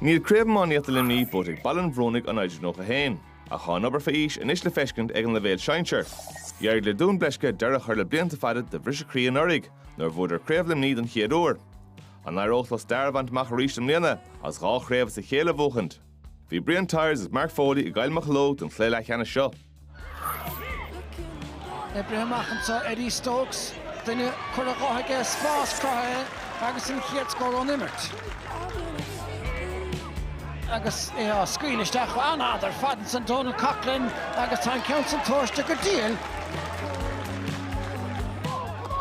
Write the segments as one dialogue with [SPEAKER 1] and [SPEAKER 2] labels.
[SPEAKER 1] Níl craobh iománaíochta Luimní buaite ag Baile an Bhrúnaigh ón mbliain 91, ach tá an obair fé aois anois le feiscint ag an leibhéal sinsir. D'éirigh le Dún Bleisce deireadh a chur le blianta fada de bhriseadh croí anuraidh nuair a bhuadar Craobh Luimní don chéad uair. An éireodh leo stair a bhaint amach arís i mbliana agus dhá chraobh as a chéile a bhuachaint? Bhí Brian Tyers agus Mark Foley i gCill Mocheallóg don chluiche leathcheannais seo.
[SPEAKER 2] Oibrithe amach anseo Eddie Stokes, duine curtha dhe aige, spás cruthaithe agus an chéad scór ón imirt. Agus é scaoilte isteach, an-fhad ar fad ansin Dónal Coughlan agus tá an ceann sin tomhaiste go diail.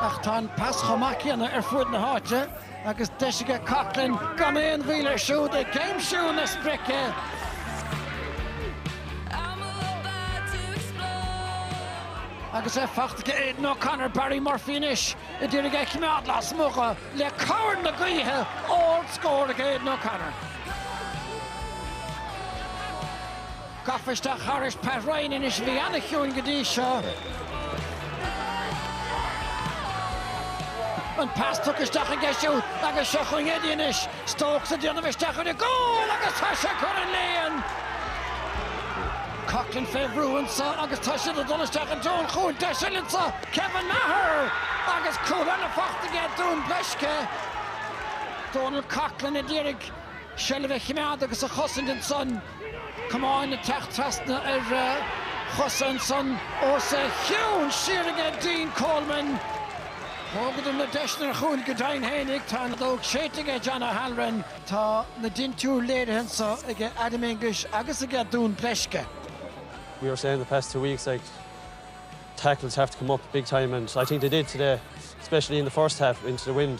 [SPEAKER 2] Ach tá an pas chomh maith céanna ar fuaid na háite. agus deis aige Coughlan gan aon mhoill air siúd ag aimsiú na sprice. Agus é faighte ag Aidan O'Connor, Barry Murphy anois a d'iarraidh é a choimeád lasmuigh le cabhair na gaoithe, ard scór ag Aidan O'Connor. Gafa isteach thairis Pat Ryan anois a bhí an-chiúin go dtí seo. An pas tugtha isteach aige siúd agus seo chugainn Eddie anois. Stokes ag déanamh isteach chun an chúil agus tá sé i gcúl an lín! Coughlan fé bhrú anseo agus tá siad ag dul isteach i dtreo an chúil deis eile anseo. Kevin Maher! Agus cúl eile faighte aige Dún Bleisce. Dónal Coughlan a d'iarraidh seilbh a chimeád agus a chosaint ansan. camáin ag teacht trasna ar chosa ansan os a chionn siar aige Dean Coleman. Thógadar na deiseanna ar chúil go deimhin fhéinig, tá an fheadóg séidte aige John O'Halloran. Tá na dintiúir léirithe anso aige Adam English agus aige Dún Bleisce. We
[SPEAKER 3] were saying the past two weeks like tackles have to come up big time and I think they did today especially in the first half into the wind.